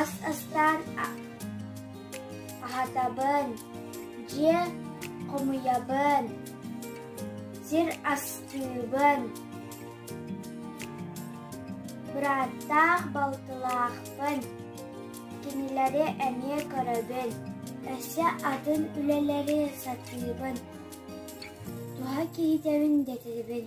Ас астаан аһатабын, дьиэ хомуйабын, сир астыыбын, бырааттаах балтылаахпын, кинилэри эмиэ көрөбүн, өссө атын үлэлэри сатыыбын, туһа киһитэбин дэтибин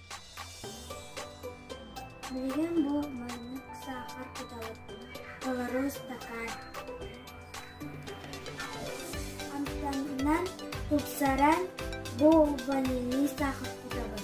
Билигин бу маннык саахар куталарбын толору ыстакаан амтанынан тупсаран болванинии саахар кутабын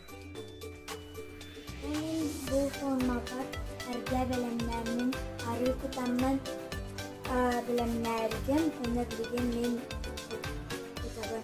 Эҥин бу формата эргэ бэлэмнээммин арыы кутаннан бэлэмнээргин уонна билигин мин кутабын